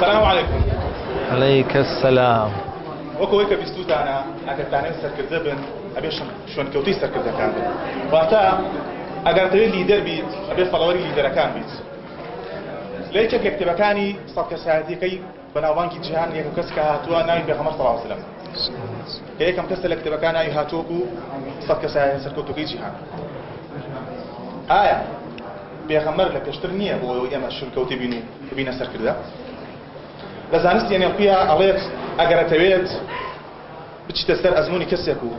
سلام علیکم. علیک السلام. وەک ئەوەی کە بیستووتانە ئەگەر تانەوێت سەرکردە بن ئەبێ شوێنکەوتووی سەرکردەکان بن واتە ئەگەر دەوێت لیدەر بیت ئەبێ فەڵەوەری لیدەرەکان بیت لە یەکێک لە کتێبەکانی سەد کەسایەتیەکەی بەناوبانگی جیهان یەکەم کەس کە هاتووە ناوی پێغەمبەر صلی اللە علیە و سلم کە یەکەم کەسە لە کتێبەکان ناوی هاتووە بوو سەد کەسایەتە سەرکەوتووەکەی جیهان ئایا پێغەمبەر لە پێشتر نییە بۆ ئەوەی ئێمە شرکەوتێ بین و ببینە سەرکردە لە زانستی ئەنێڵپیا ئەڵێت ئەگەرەتەوێت بچیتە سەر ئەزموونی کەسێک و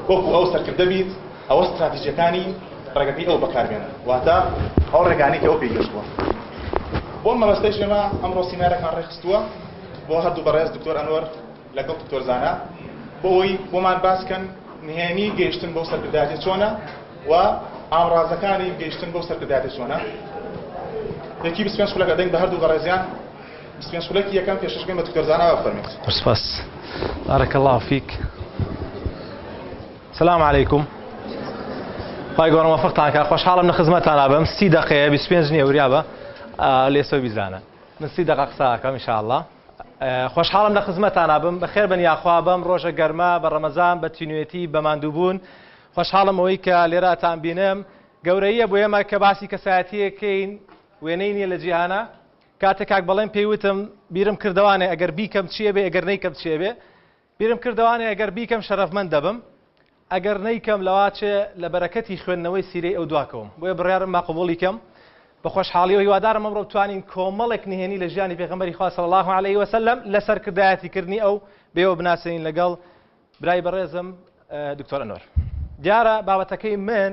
وەکو ئەو سەرکردە بیت، ئەوە ستراتیجیەکانی ڕێگەکەی ئەو بەکاربێنە، واتە ئەو ڕێگانەی کە ئەو پێی گەشتووە. بۆ ئەم مەبەستەیش ئێمە ئەمڕۆ سیمینارێکمان ڕێکخستووە بۆ هەردوو بەڕێز دکتۆر ئەنوەر لەگەڵ دکتۆر زانا بۆ ئەوەی بۆمان باس کەن نهێنی گەیشتن بەو سەرکردایەتیە چۆنە و ئامڕازەکانی گەیشتن بەو سەرکردایەتیە چۆنە. یەکی بیست و پێنج خولەکە دەین بە هەردوو بەڕێزیان. بیست و پێنج خولەکی یەکەم پێشکەش بکەین بە دکتۆر زانا با بفەرموێت. سپاس بارک اللە فیک سلام علیکم خوای گەورە موفقتان کات خۆشحاڵم لە خزمەتانا بم سی دقەیە بیست و پێنج نییە وریا بە لێسەوەی بیزانە من سی دقە قسە ئەکەم ان شاء اللە خۆشحاڵم لە خزمەتانا بم بەخێر بن یاخوا بەم ڕۆژە گەرما بە ڕەمەزان بە تینوێتی بە ماندووبوون خۆشحاڵم ئەوەی کە لێراتان بینم گەورەیە بۆ ئێمە کە باسی کەسایەتیەکەین وێنەی نییە لە جیهانە کاتێ کاک بەڵێن پێی وتم بیرم کردەوانێ ئەگەر بیکەم چی ئەبێ ئەگەر نەیکەم چی ئەبێ بیرم کردەوانێ ئەگەر بیکەم شەرەفمەند دەبم ئەگەر نەیکەم لەوا چێ لە بەرەکەتی خوێندنەوەی سیرەی ئەو دواکەوم بۆیە بڕیارم با قبوڵی کەم بە خۆشحاڵیەوە هیوادارم ئەمڕۆ بتوانین کۆمەڵێک نهێنی لە ژیانی پێغەمبەری خوا صلی الله علیه وسلم لە سەرکردایەتی کردنی ئەو بێوە بناسێنین لەگەڵ برای بەڕێزم دکتۆر ئەنۆر دیارە بابەتەکەی من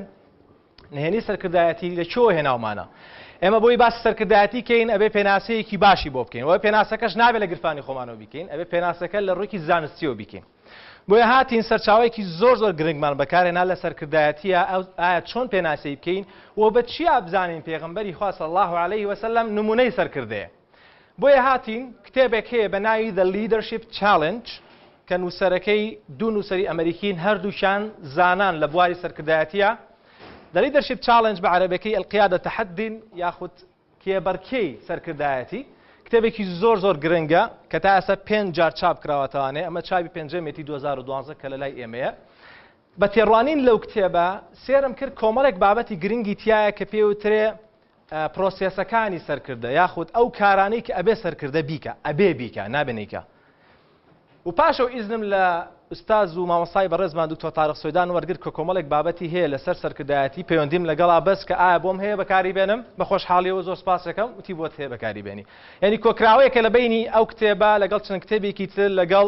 نهێنی سەرکردایەتی لە چۆ هێناومانە ئێمە بۆی باسی سەرکردایەتی کەین ئەبێ پێناسەیەکی باشی بۆ بکەین وە پێناسەکەش نابێت لە گرفانی خۆمانەوە بیکەین ئەبێ پێناسەکە لە ڕوویکی زانستیەوە بیکەین بۆیە هاتین سەرچاوێکی زۆر زۆر گرنگمان بەکارێنا لە سەرکردایەتیە ئەو ئایا چۆن پێناسی بکەین و بە چیا بزانین پێغمبەری خواص الله عليه وسلم نمونەی سەرکردەیە بۆیە هاتین کتێبێک هەیە بە ناوی The Leadership Challenge کە نووسەرەکەی دوو نووسەری ئەمریکین هەردووشان زانان لە بواری سەرکردایەتیە The Leadership Challenge بە عەرەبەکەی القیادە تحدین یاخود کێبەرکێی سەرکردایەتی کتێبێکی زۆر زۆر گرنگە کە تا ئەسە پێنج جار چاپ کراوەتەوانێ ئەمە چاوی پێنجەمێتی 2012 کە لە لای ئێمەیە بە تێڕوانین لەو کتێبە سێرم کرد کۆمەڵێک بابەتی گرنگی تایە کە پێوترێ پرۆسێسەکانی سەرکردە یاخود ئەو کارانەی کە ئەبێ سەرکردە بیکا ئەبێ بیکا نابێ نیکا و پاشەو ئیزنم لە ئوستاز و مامەسای بەڕێزمان دکتۆر تارق سوێدان وەرگر کە کۆمەڵێک بابەتی هەیە لەسەر سەرکردایەتی پەیوەندیم لەگەڵا بەس کە ئایا بۆم هەیە بەکاری بێنم بە خۆشحاڵیەوە زۆر سپاسەکەم وتی بۆت هەیە بەکاری بێنی یعنی کۆکراوەیەکە لە بینی ئەو کتێبە لەگەڵ چەند کتێبێکی تر لەگەڵ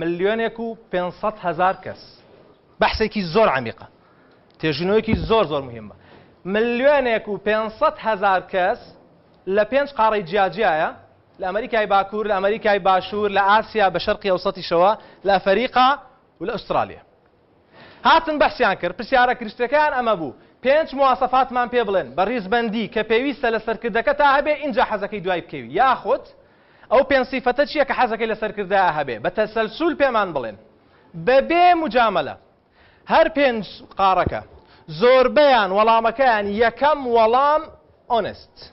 ملیۆنێک و پێنج سەد هەزار کەس بەحسێکی زۆر عمیقە تێژینەوەیەکی زۆر زۆر مهمە ملیۆنێک و پێنج سەد هەزار کەس لە پێنج قاڕی جیاجیایە لە ئەمریکای باکوور لە ئەمریکای باشوور لە ئاسیا بە شەرقی ئەوسەتیشەوە لە ئەفەریقا و لە ئوسترالیا هاتن بەحسیان کرد، پرسیارە گرشتەکەیان ئەمە بوو، پێنچ مواسەفاتمان پێ بڵێن بە ریزبەندی کە پێویستە لە سەرکردەکەتا هەبێ ئینجا حەزەکەی دوای بکەوی یاخود ئەو پێنج سیفەتە چیە کە حەزەکەی لە سەرکردایا هەبێ بە تەسەلسول پێمان بڵێن بە بێ موجامەلە هەر پێنج قاڕەکە زۆربەیان وەڵامەکەیان یەکەم وەڵام Honest.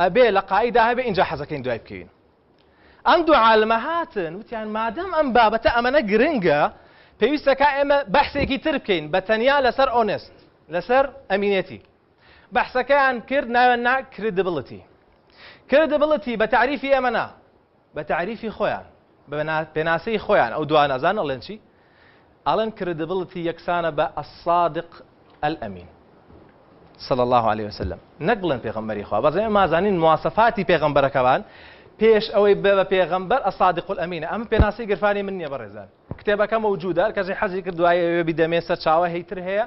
ئەبێ لە قائیدا هەبێ ئینجا حەزەکەین دوای بکەوین ئەم دوو عالمە هاتن وتیان مادەم ئەم بابەتە ئەمەنە گرنگە پێویستە کا ئێمە بەحسێکی تر بکەین بە تەنیا لەسەر ئۆنست لەسەر ئەمینێتی بەحسەکەیان کرد ناوێن نا کردبڵەتی کردبڵەتی بە تعریفی ئێمەنا بە تەعریفی خۆیان، بە پێناسەی خۆیان، ئەو دوا نەزان ئەڵێن چی؟ ئەڵێن کرێدبڵتی یەکسانە بە الصادق الامین صلی اللە علیە وسلم نەک بڵێن پێغەمبەری خوا بەڕێ ئێمە زانین مواسەفاتی پێغەمبەرەکەمان پێش ئەوەی بێ بە پێغەمبەر الصادق الامین ئەم پێناسی گرفانی من نییە بەڕێزان کتێبەکە مەوجودە کەسی حەزی کرد دوایە ئەوێ بیدەمێ سەر چاوە هەیتر هەیە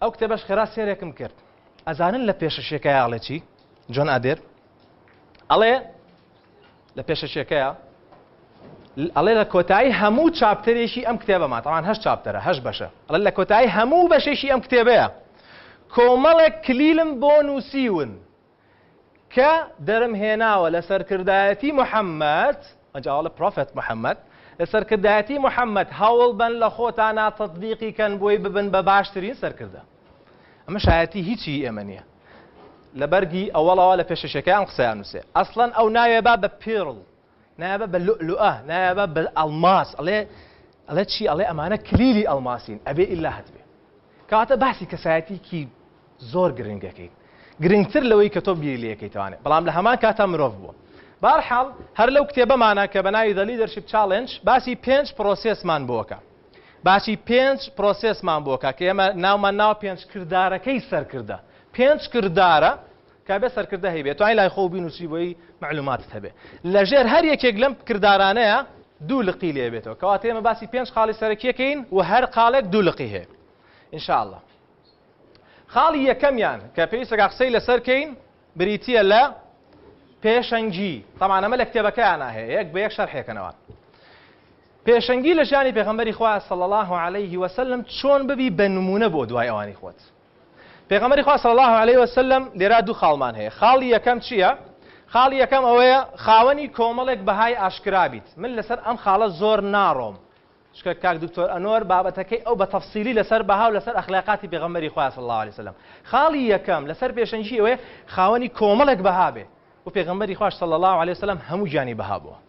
ئەو کتێبەش خێرا سێرێکم کرد ئەزانن لە پێشەشێکای ئاڵێ چی جۆن ئادێر ئەڵێ لە پێشەشێکەیە ئەڵێ لە کۆتایی هەموو چاپتەرێکی ئەم کتێبەما تاوان هەش چاپتەرە هەش بەشە ئەڵ لە کۆتایی هەموو بەشێکی ئەم کتێبەیە کۆمەڵێک کلیلم بۆ نووسیون کە درم هێناوە لە سەرکردایەتی محمد، ئەنجا ئەڵێ Prophet Muhammad، لە سەرکردایەتی محمد هەوڵ بەن لە خۆتانا تەتبیقی کەن بۆی ببن بە باشترین سەرکردە. ئەمە شایەتی هیچی ئێمە نیە. لە بەرگی ئەوەڵەوە لە پێشەشەکەی ئەم قسەیان نوسێ. ئەسڵەن ئەو ناوێ با بە Pearl. نایابە بە لوئلوئە نایابە بە ئەڵماس ئەڵێ ئەڵێ چی ئەڵێ ئەمانە کلیلی ئەڵماسین ئەبێ ئیلا هەتبێ کەواتە باسی کەسایەتیکی زۆر گرنگ دەکەیت گرنگتر لەوەی کە تۆ بیری لەکەیتوانێت بەڵام لە هەمان کاتا مرۆڤ بووە بارحاڵ هەر لەو کتێبەمانە کە بەناوی دەلی دەرشیب چاڵنج باسی پێنج پرۆسێسمان بۆکە باسی پێنج پرۆسێسمان بۆکە کە ئێمە ناومان ناو پێنج کردارەکەی سەرکردە پێنج کردارە کە بێ سەرکردە هەیبێ توانی لای خۆو بینووسی بۆی مەعلووماتت هەبێ لە ژێر هەر یەکێک لەم کردارانەیا دوو لقی لێ بێتەوە کەواتە ئێمە باسی پێنج خاڵی سەرەکیەکەین و هەر قاڵێک دوو لقی هەیە ان شاء الله خاڵی یەکەمیان کە پێویستە قسەی لەسەر کەین بریتییە لە پێشەنگی تەمانەمە لە کتێبەکەیان هەیە یەک بە یەک شەرحێکەنەوە پێشەنگی لە ژیانی پێغەمبەری خوا صلی الله عليه وسلم چۆن ببی بە نمونە بۆ دوای ئەوانی خۆت پێغەمبەری خوا صلی اللە علیە وسلم لێرا دوو خاڵمان هەیە خاڵی یەکەم چییە خاڵی یەکەم ئەوەیە خاوەنی کۆمەڵێک بەهای ئاشکرا بیت من لەسەر ئەم خاڵە زۆر ناڕۆم شکە کاک دکتۆر ئەنۆر بابەتەکەی ئەو بە تەفسیلی لەسەر بەها و لەسەر ئەخلاقاتی پێغەمبەری خوا صلی اللە علیه وسلم خاڵی یەکەم لەسەر پێشەنگی ئەوەیە خاوەنی کۆمەڵێک بەها بێ و پێغەمبەری خوا صلی اللە علیه وسلم هەموو گیانی بەها بووە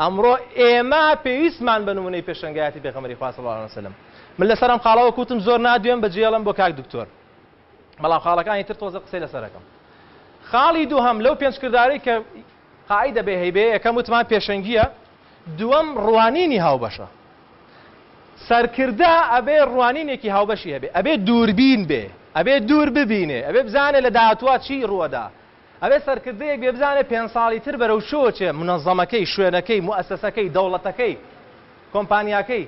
ئەمڕۆ ئێمە پێویستمان بە نمونەی پێشەنگایەتی پێغەمبەری خوا صلی اللە علیە وسلم من لەسەر ئەم خاڵە وەک وتم زۆر نادوێم بە جێڵم بۆ کاک دکتۆر بەڵام خاڵەکانی تر تۆزە قسەی لەسەر ئەکەم خاڵی دووهەم لەو پێنج کردارەی کە قاعدە بێ هەیبێ یەکەم وتمان پێشەنگیە دووەم ڕوانینی هاوبەشە سەرکردە ئەبێ ڕوانینێکی هاوبەشی هەبێ ئەبێ دووربین بێ ئەبێ دوور ببینێ ئەبێ بزانێ لە داهاتوە چی ڕووەدا ئەبێت سەرکردەیەک بێ بزانێت پێنج ساڵی تر بەرەو چۆوە چێ، منەزەمەکەی، شوێنەکەی، موئەسەسەکەی، دەوڵەتەکەی، کۆمپانیاکەی،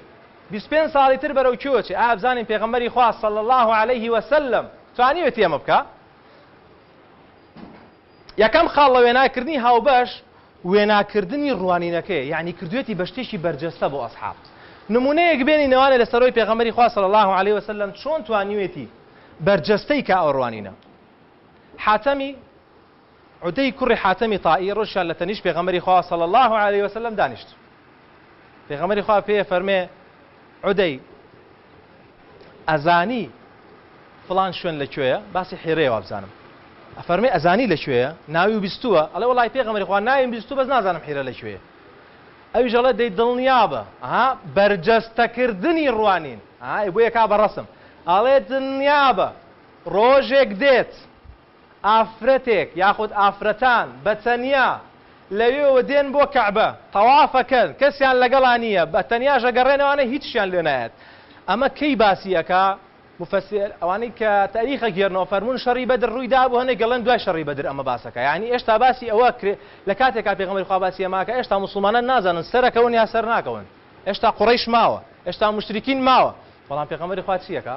بیست پێنج ساڵی تر بەرەو کوێوە چێ، ئایا بزانین پێغەمبەری خوا صلی اللە علیە وسلم توانیوێتی ئەمە بکا؟ یەکەم خاڵ لە وێناکردنی هاوبەش وێناکردنی ڕوانینەکەیە، یەعنی کردوێتی بە شتێکی بەرجەستە بۆ ئەسحاب. نمونەیەک بێنین ئەوانە لە سەرەوەی پێغەمبەری خوا صلی اللە علیە وسلم چۆن توانیوێتی بەرجەستەی کا ئەو ڕوانینە. حاتەمی، عدی کوڕی حاتەمی طائی، ڕۆژیشان لە تەنیشت پێغەمبەری خوا صلی اللە علیە و سلم دانیشت. پێغەمبەری خوا پێی ئەفەرمێ، عدی، ئەزانی فڵان شوێن لە کوێیە؟ باسی حیرەیە وابزانم. ئەفەرمێ ئەزانی لە کوێیە؟ ناوی بیستووە؟ ئەڵێ وەڵای پێغەمبەری خوا ناویم بیستوو بەس نازانم حیرە لە کوێیە. ئەویش ئەڵێ دەی دڵنیابە، ئەها بەرجەستەکردنی ڕوانین، ئەها ئێ بۆیە کا بە ڕەسم، ئەڵێ دڵنیابە، ڕۆژێک دێت ئافرەتێک یاخود ئافرەتان بە تەنیا لەوێوە دێن بۆ کەعبە تەوافەکەن کەسیان لەگەڵا نییە بە تەنیاش ئەگەڕێنەوانە هیچشیان لێ نایەت ئەمە کەی باسی ئەکا مفسر ئەوانەی کە تاریخ ئەگێرنەوە فەرموون شەڕی بەدر ڕووی دابوو هەنێک گەڵێن دوای شەڕی بەدر ئەمە باس ئەکا یانی ئێشتا باسی ئەوە کرێ لە کاتێکا پێغەمبەری خوا باسی ئەمە ئەکا ئێشتا موسڵمانان نازانن سەر ئەکەون یا سەر ناکەون ئێشتا قوڕەیش ماوە ئێشتا موشریکین ماوە بەڵام پێغەمبەری خوا چی ئەکا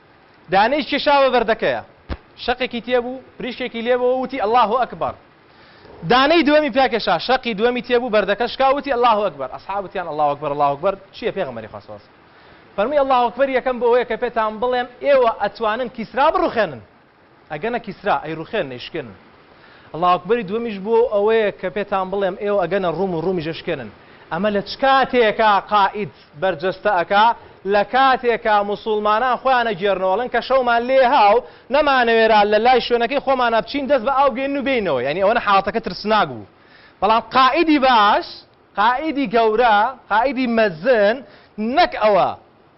دانەی کێشاوە بەردەکەیە شەقێکی تێبوو پریشکێکی لێبەوە وتی اللە اکبر دانەی دووەمی پیا کێشا شەقی دووەمی تێبوو بەردەکە شکا وتی اللە اکبر اصحاب وتیان اللە اکبر اللە اکبر چیە پێغەمبەری خوا صلی فەرمی اللە اکبر یەکەم بۆ ئەوەیە کە پێتان بڵێم ئێوە ئەتوانن کیسرا بڕوخێنن ئەگەنە کیسرا ئەیڕوخێن نەیشکێنن. اللە اکبری دووەمیش بۆ ئەوەیە کە پێتان بڵێم ئێوە ئەگەنە ڕوم و ڕومیش ئەشکێنن. ئەمە لە چ کاتێکە قائید بەرجەستە ئەکا لە کاتێکا موسوڵمانان خۆیان ئەگێرنەوە ئەڵێن کە شەومان لێ هاو نەمانەوێرا لە لای شوێنەکەی خۆمانا بچین دەست بە ئاو بگەینن و بێینەوە یانی ئەوەنە حاڵەتەکە ترسناک بوو بەڵام قائیدی باش قائیدی گەورە قائیدی مەزن نەک ئەوە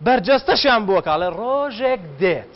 بەرجەستەشیان بۆ ئەکا ئەڵێ ڕۆژێک دێت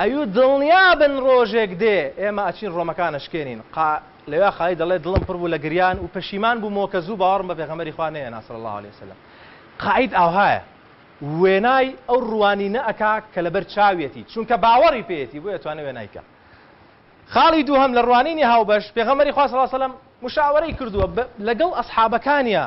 ئەیوو دڵنیا بن ڕۆژێک دێ ئێمە ئەچین ڕۆمەکان ئەشکێنین، قا لەویا قالی دەڵێت دڵم پڕ بوو لە گریان و پەشیمان بوومەوە کە زوو باوەڕم بە پێغەمبەری خوا نەیەنا صلی اللە علیە وسلم قائید ئاوهایە وێنای ئەو ڕوانینە ئەکا کە لەبەر چاویەتی چونکە باوەڕی پێیەتی بۆیە توانێ وێنای کا خاڵی دووهەم لە ڕوانینی هاوبەش پێغەمبەری خوا صلی اللە علیە وسلم مشاوەرەی کردووە لەگەڵ ئەسحابەکانیا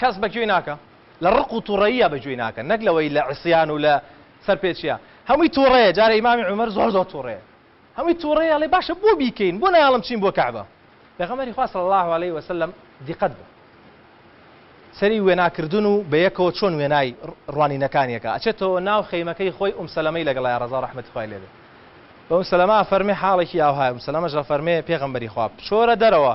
کەس بە گوێی ناکا لە ڕق و توڕەییا بە گوێی ناکەن نەک لەوەی لە عیسیان و لە سەر پێچیا هەمووی توڕەیە جارێ ئیمامی عومەر زۆر زۆر توڕەیە هەمووی توڕەیە ئەڵێ باشە بۆ بیکەین بۆ نایاڵم چین بۆ کەعبە پێغەمبەری خوا صلی الله علیه و سلم دیقەت بە سەری وێناکردن و بە یەکەوە چۆن وێنای ڕوانینەکانیەکە ئەچێتەوە ناو خەیمەکەی خۆی ئوم سەلەمەی لەگەڵای ڕەزا ڕەحمەتی خوای لێ بێ بە ئوم سەلەمە فەرمێ حاڵێکی ئاوهای ئوم سەلەمەش ئەفەرمێ پێغەمبەری خوا بچۆرە دەرەوە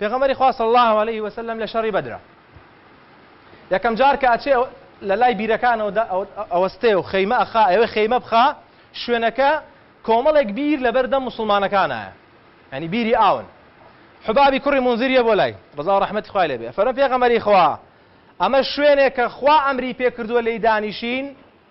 پێغەمبەری خوا صلی اللە علیە و سلم لە شەڕی بەدرە یەکەم جار کە ئەچێ لە لای بیرەکانەوە دە ئەوەستێ و خەیمە ئەخا ئەوێ خەیمە بخا شوێنەکە کۆمەڵێک بیر لە بەردەم مسلمانەکانایە ینی بیری ئاون حبابی کوڕی منزیریە بۆ لای ڕزا و ڕحمەتی خوای لێبێ فەرمە پێغەمەری خوا ئەمە شوێنێک کە خوا ئەمری پێکردووە لێی دانیشین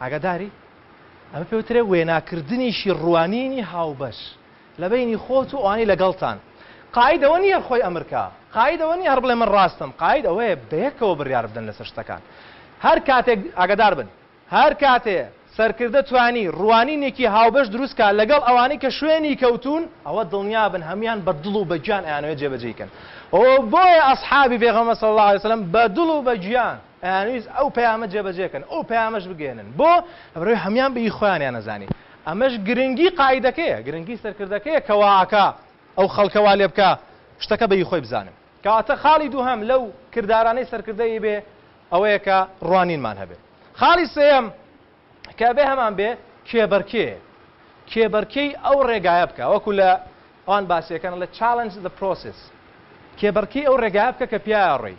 ئاگاداری؟ ئەمە پێ وترێ وێناکردنیشی ڕوانینی هاوبەش لە بەینی خۆت و ئەوانەی لەگەڵتان. قاید ئەوە نییە خۆی ئەمر کا. قاید ئەوە نییە هەر بڵێ من ڕاستم. قاید ئەوەیە بەیەکەوە بڕیار بدەن لەسەر شتەکان. هەر کاتێک، ئاگادار بن، هەر کاتێ سەرکردە توانی ڕوانینێکی هاوبەش دروست کا لەگەڵ ئەوانەی کە شوێنی کەوتوون، ئەوە دڵنیا بن هەموویان بە دڵ و بە گیان ئەیانەوێت جێبەجێی کەن. ئەوە بۆیە ئەسحابی پێغەمبەر صلی اللە علیە وسلم بە دڵ و بە گیان، ئەیانویست ئەو پەیامە جێبەجێ کەن ئەو پەیامەش بگەیەنن بۆ ئەوەی هەموان بە ی خۆیانیان ئەزانی ئەمەش گرنگی قائیدەکەیە گرنگی سەرکردەکەیە کە وا ئەکا ئەو خەڵکە وا لێ بکا شتەکە بە ی خۆی بزانن کەواتە خاڵی دووهەم لەو کردارانەی سەرکردە ی بێ ئەوەیە کە ڕوانینمان هەبێ خاڵی سێیەم کە ئەبێ هەمان بێ کێبەرکێ کێبەرکێی ئەو ڕێگایە بکا وەکو لە ئەوان باسیەکەن لە challenge the process کێبەرکێی ئەو ڕێگایە بکە کە پیایا ڕۆی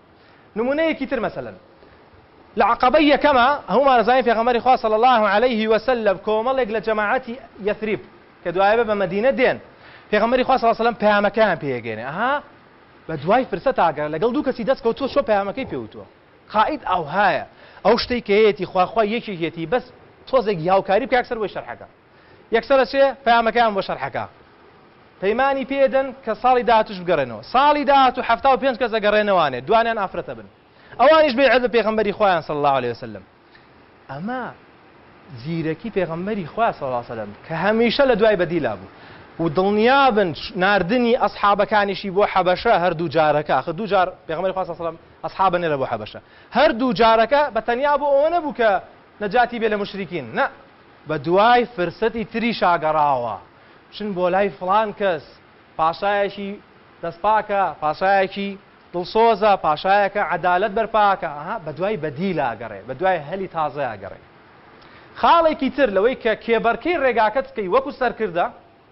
نمونەیەکی تر مەسەلەن لە عەقەبەی یەکەما هەموومان ئەزانین پێغەمبەری خوا صلی اللە علیه و سلم کۆمەڵێک لە جەماعەتی یثریب کە دوایەبە بە مەدینە دێن پێغەمبەری خوا صلی اللە علیه و سلم پەیامەکەیان پێ ئەگەێنێ ئەها بە دوای فرسە تاگەرە لەگەڵ دوو کەسی دەست کەوتووە چۆ پەیامەکەی پێ وتووە قائد ئەوهایە ئەو شتەی کە هەیەتی خواخوای یەکێکێتی بەس تۆزێک هاوکاری بکە یەکسەر بۆی شەرحەکە یەکسەر ئەچێ پەیامەکەیان بۆ شەرحەکە پەیمانی پێ دەن کە ساڵی داهاتوش بگەڕێنەوە ساڵی داهاتو حەفتا و پێنج کەس ئەگەڕێنەوانێ دوانیان ئافرەتە بن ئەوانیش بەیعەت بە پێغەمبەری خوایان صلی اللە علیە وسلم ئەمە زیرەکی پێغەمبەری خوا صلی اللە علیە وسلم کە هەمیشە لە دوای بەدیلا بوو و دڵنیا بن ناردنی ئەسحابەکانیشی بۆ حەبەشە هەردوو جارەکە خە دوو جار پێغەمبەری خوا صلی اللە علیە وسلم ئەسحابە نێرە بۆ حەبەشە هەردوو جارەکە بە تەنیا بۆ ئەوە نەبوو کە نەجاتی بێ لە مشریکین نە بە دوای فرسەتی تریشا گەڕاوە، بچن بۆ لای فڵان کەس، پاشایەکی دەستپاکە، پاشایەکی دڵسۆزە، پاشایەکە عەدالەت بەرپاکا، ئەها بە دوای بەدیلا گەڕێ، بە دوای هەلی تازەیا گەڕێ. خاڵێکی تر لەوەی کە کێبەرکێی ڕێگاکەت بکەی وەکو سەرکردە،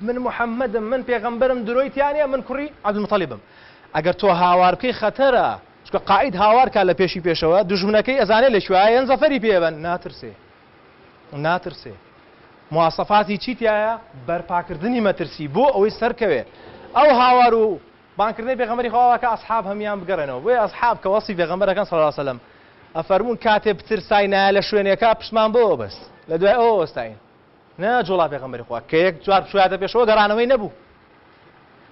من محمدم من پێغەمبەرم درۆی تیا نیە من کوڕی عبدالمطلبم ئەگەر تۆ هاوار بکەی خەتەرە چونکە قائید هاوار کا لە پێشی پێشەوە دوژمنەکەی ئەزانێ لە کوێ یەن زەفەری پێ بەن ناترسێ ناترسێ مواسەفاتی چی تایە بەرپاکردنی مەترسی بۆ ئەوەی سەرکەوێ ئەو هاوار و بانکردنەی پێغەمبەری خواوە کە ئەسحاب هەمیان بگەڕێنەوە بۆیە ئەسحاب کە وەسی پێغەمبەرەکان صلی الله علیه وسلم ئەفەرموون کاتێ بترسای نایە لە شوێنێکە پشتمان بۆ بەست لە دوای ئەوە وەستاین نە جوڵا پێغەمبەری خوا کە یەک جار بچوویاتە پێشەوە گەڕانەوەی نەبوو.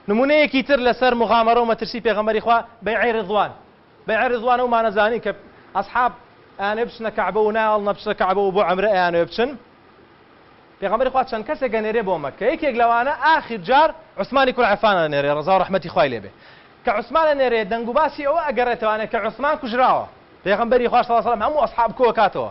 نموونەیەکی تر لەسەر موغامەرە و مەترسی پێغەمبەری خوا بەیعەی ڕیضوان، بەیعەی ڕیضوان ئەو مانە زانی کە ئەسحاب ئەیانەوێ بچنە کەعبە و نایەڵنە بچنە کەعبە و بۆ عەمرە ئەیانەوێ بچن، پێغەمبەری خوا چەند کەسێک ئەنێرێ بۆ مەککە یەکێک لەوانە ئاخر جار عوسمانی کوڕ عەفان ئەنێرێ ڕەزا و ڕەحمەتی خوای لێ بێ کە عوسمان ئەنێرێ دەنگوباسی ئەوە ئەگەڕێتەوانێ کە عوسمان کوژراوە پێغەمبەری خوا صلی اللە علیە و سلم هەموو ئەسحاب کۆ ئەکاتەوە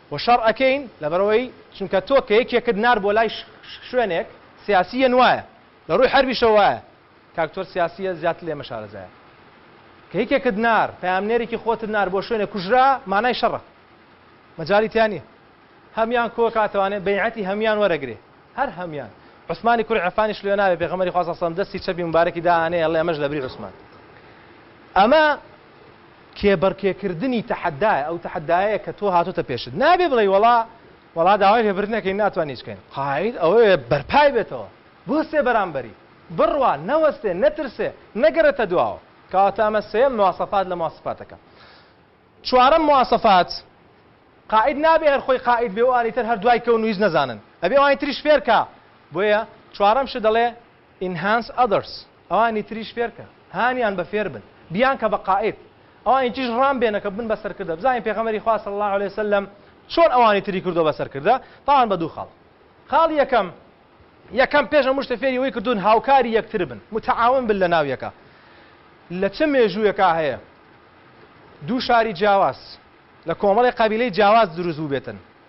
و شەڕ ئەکەین لەبەرئەوەی چونکە تۆ کە یەکێکت نارد بۆ لای شوێنێک سیاسی یەن وایە لە ڕووی حەربیشەوە وایە کە ئەکتۆر سیاسیە زیاتر لێمە شارەزایە کە یەکێکت نارد پەیامنێرێکی خۆتت نارد بۆ شوێنێک کوژرا مانای شەڕە مەجالی تیا نیە هەمیان کۆ کاتەوانێ بەیعەتی هەمیان وەرەگرێ هەر هەمیان عوسمانی کوری عەفانیش لێ ناوێ پێغەمەری خوا سەسەم دەستی چەپی مبارەکی دانێ ئەڵێ ئەمەش لەبری عوسمان ئەمە کێبڕکێکردنی تەحەدایە، ئەو تەحەدایەیە کە تۆ هاتۆتە پێشت، نابێ بڵێی وەڵا وەڵا داوای لێبردنەکەین ناتوانین هیچ بکەین، قائید ئەوەیە بەرپای بێتەوە، بوەستێ بەرامبەری، بڕوا، نەوەستێ، نەترسێ، نەگەڕێتە دواوە، کەواتە ئەمە سێیەم مواصفات لە مواصفاتەکە. چوارەم مواصفات، قائید نابێ هەر خۆی قائید بێ و ئەوانی تر هەر دوای کەون و هیچ نەزانن، ئەبێ ئەوانی تریش فێرکا، بۆیە چوارەم شت دەڵێ، Enhance others ئەوانی تریش فێرکە هانیان بە فێربن بیانکە بە قائید ئەوانی تریش ڕام بێنە کە ببن بە سەرکردە بزانین پێغەمبەری خوا صلی اللە علیە وسلم چۆن ئەوانی تری کردوە بە سەرکردە تاوان بە دوو خاڵ خاڵ یەکەم یەکەم پێش هەموو شتە فێری ئەوەی کردوون هاوکاری یەکتر بن متعاون بن لە ناو یەکە لە چ مێژوویەکا هەیە دوو شاری جیاواز لە کۆمەڵی قەبیلەی جیاواز دروست بووبێتن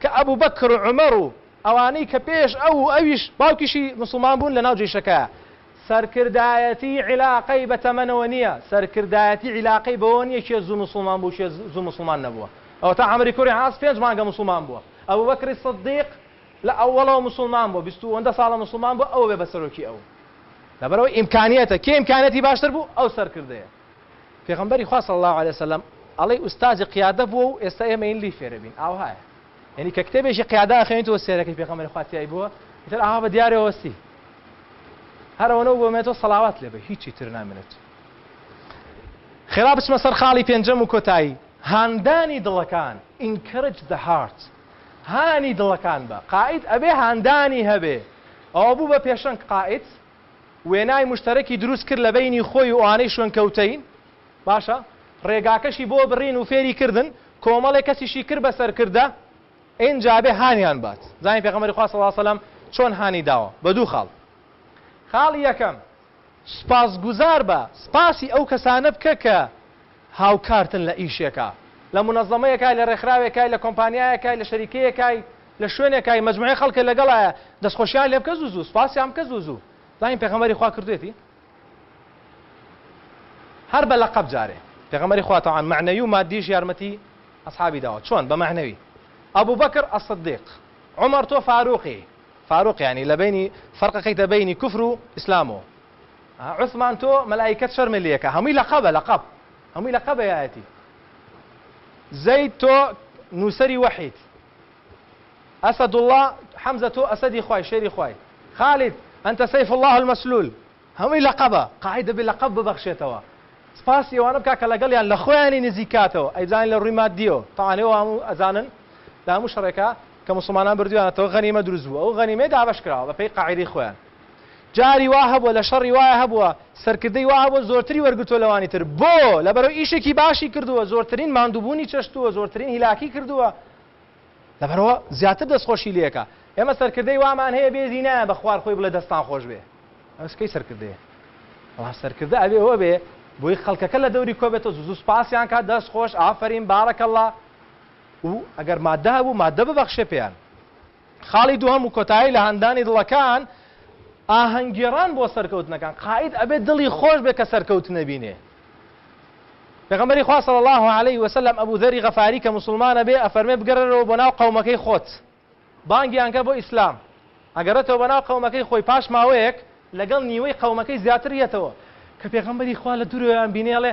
کە ئەبوبەکر و عومەر و ئەوانەی کە پێش ئەو و ئەویش باوکیشی موسڵمان بوون لەناو جەیشەکەیا. سەرکردایەتیی عیلاقەی بە تەمەنەوە نییە، سەرکردایەتیی عیلاقەی بەوەوە نییە کێ زوو موسڵمان بوو کێ زوو موسڵمان نەبووە. ئەوەتا عەمری کوڕی عاس پێنج مانگە موسڵمان بووە. ئەبوبەکری سدیق لە ئەوەڵەوە موسڵمان بووە، بیست و ئەوەندە ساڵە موسڵمان بووە، ئەوە بێ بە سەرۆکی ئەو. لەبەرئەوەی ئیمکانییەتە، کێ ئیمکانییەتی باشتر بوو، ئەو سەرکردەیە. پێغەمبەری خوا صلی اللە علیە وسلم ئەڵێی ئوستازی قیادە بووە و ئێستا ئێمەین لێی فێربین ئاوهایە یەنی کە کتێبێکی قیادە ئەخوێنیتەوە سێرەکەی پێغەمبەری خوا تیای بووە ئیتر ئاوا بە دیارە وەستی هەرەوەنەو بۆمێتەوە سەڵاوات لێبێ هیچی تر نامێنێت خێرا بچمە سەر خاڵی پێنجەم و کۆتایی هاندانی دڵەکان encourage the heart هانی دڵەکان بە قائد ئەبێ هاندانی هەبێ ئەوە بوو بە پێشەنگ قائد وێنای مشتەرەکی دروست کرد لەبەینی خۆی و ئەوانەی شوێنکەوتەین، باشە ڕێگاکەشی بۆ بڕین و فێری کردن، کۆمەڵێ کەسیشی کرد بە سەرکردە، ئینجا بێ هانیان بات، زانین پێغەمبەری خوا صلی اللە علیە وسلم چۆن هانی داوە، بە دوو خاڵ، خاڵی یەکەم، سوپاسگوزار بە، سوپاسی ئەو کەسانە بکە کە، هاوکارتن لە ئیشێکا، لە مونەزەمەیەکای، لە رێکخراوێکای، لە کۆمپانیایەکای، لە شەریکەیەکای، لە شوێنێکای، مەجموعەی خەڵکە لەگەڵایە، دەستخۆشیان لێ بکە زوو زوو، سوپاسیان بکە زوو زوو. زانین پێغەمبەری خوا کردوویەتی؟ هەر بە لەقەب جارێ. پێغەمبەری خوا تەبعەن مەعنەوی و ماددیش یارمەتی ئەسحابی داوە. چۆن؟ بە مەعنەوی، ئەبوبەکر الصدیق، عومەر تۆ فاروقی، فاروق یانی لە بەینی، فەرقەکەیتە بەینی کوفر و ئیسلام و. عوسمان تۆ مەلائیکەت شەرمێ لێکە هەمووی لەقەبە لەقەب هەمووی لەقەبە یایەتی زەید تۆ نووسەری وەحیت ئەسەدوڵڵا حەمزە تۆ ئەسەدی خوای شێری خوای خالید ئەنتە سەیف الله المەسلول هەمووی لەقەبە قاعی دەبێت لەقەب ببەخشێتەوە سپاسی ئەوانە بکە کە لەگەڵیان لە خۆیانی نزیکاتەوە ئەیبزانین لە ڕووی مادیەوە تاانەوە هەموو ئەزانن لە هەموو شەڕێکە کە مسلمانان بردویانەتەوە غەنیمە دروست بوو ئەو غەنیمەی دابش کراوە بەپی قاعدی خۆیان جاری وا هەبووە لە شەڕی وایە هەبووە سەرکردەی وا هەبووە زۆرتری وەرگرتووە لەوانی تر بۆ؟ لەبەرەوەی ئیشێکی باشی کردووە زۆرترین ماندووبوونی چەشتووە زۆرترین هیلاکی کردووە لەبەرەوە زیاتر دەستخۆشی لێکە ئێمە سەرکردەی وامان هەیە بێزی نایە بە خوار خۆی بڵێ دەستان خۆش بێ ئەس کەی سەرکردەیە بەڵام سەرکردە ئەوێ ئەوە بێ بۆی خەڵکەکە لە دەوری کۆبێتە زوو سپاسیان کا دەست خۆش ئافرین بارەکەڵا و ئەگەر مادە هەبوو مادە ببەخشێ پێیان خاڵی دووهەم و کۆتایی لە هاندانی دڵەکان، ئاهەنگگێڕان بۆ سەرکەوتنەکان، قائید ئەبێ دڵی خۆش بێ کە سەرکەوتنە بینێ. پێغەمبەری خوا صلی اللە علیە وسلم ئەبو ذەری غەفاری کە موسڵمانە بێ ئەفەرمێ بگەرەرەوە بۆ ناو قەومەکەی خۆت بانگیان کە بۆ ئیسلام، ئەگەڕێتەوە بەناو قەومەکەی خۆی پاش ماوەیەک لەگەڵ نیوەی قەومەکەی زیاتر یەتەوە، کە پێغەمبەری خوا لە دورەوەیان بینێ ئەڵێ،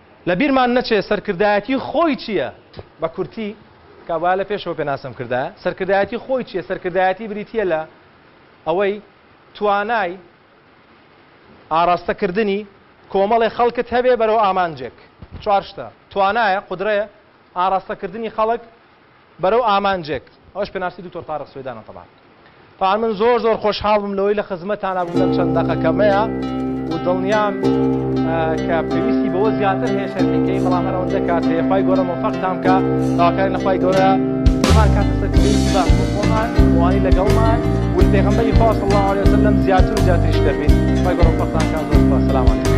لە بیرمان نەچێ سەرکردایەتی خۆی چییە؟ بە کورتی، کە با لە پێشەوە پێناسەم کردایە، سەرکردایەتی خۆی چییە؟ سەرکردایەتی بریتییە لە ئەوەی توانای ئاراستە کردنی کۆمەڵێ خەڵکت هەبێ بەرەو ئامانجێک. چوار شتە، توانایە، قودرەیە، ئاراستە کردنی خەڵک، بەرەو ئامانجێک ئەوەش پێناسەی دکتۆر تارق سوێدانە تەبان تەبان من زۆر زۆر خۆشحاڵ بووم لەوەی لە خزمەتانا بووم لەم چەند دەقە کەمەیە و دڵنیام کە پێویستی بەوە زیاتر هەیە شەرحیکەی بەڵام هەر ئەوەندە کات هەیە خوای گەورە مۆفەقتان بکا داواکارین لە خوای گەورە هەمان کاتە سەر پێویستی باش بۆ خۆمان وانی لەگەڵمان و پێغەمبەری خوا صلی الله علیه وسلم زیاتر و زیاتریش دەبین خوای گەورە مۆفەقتان کات زۆر سپاس سلام علیکم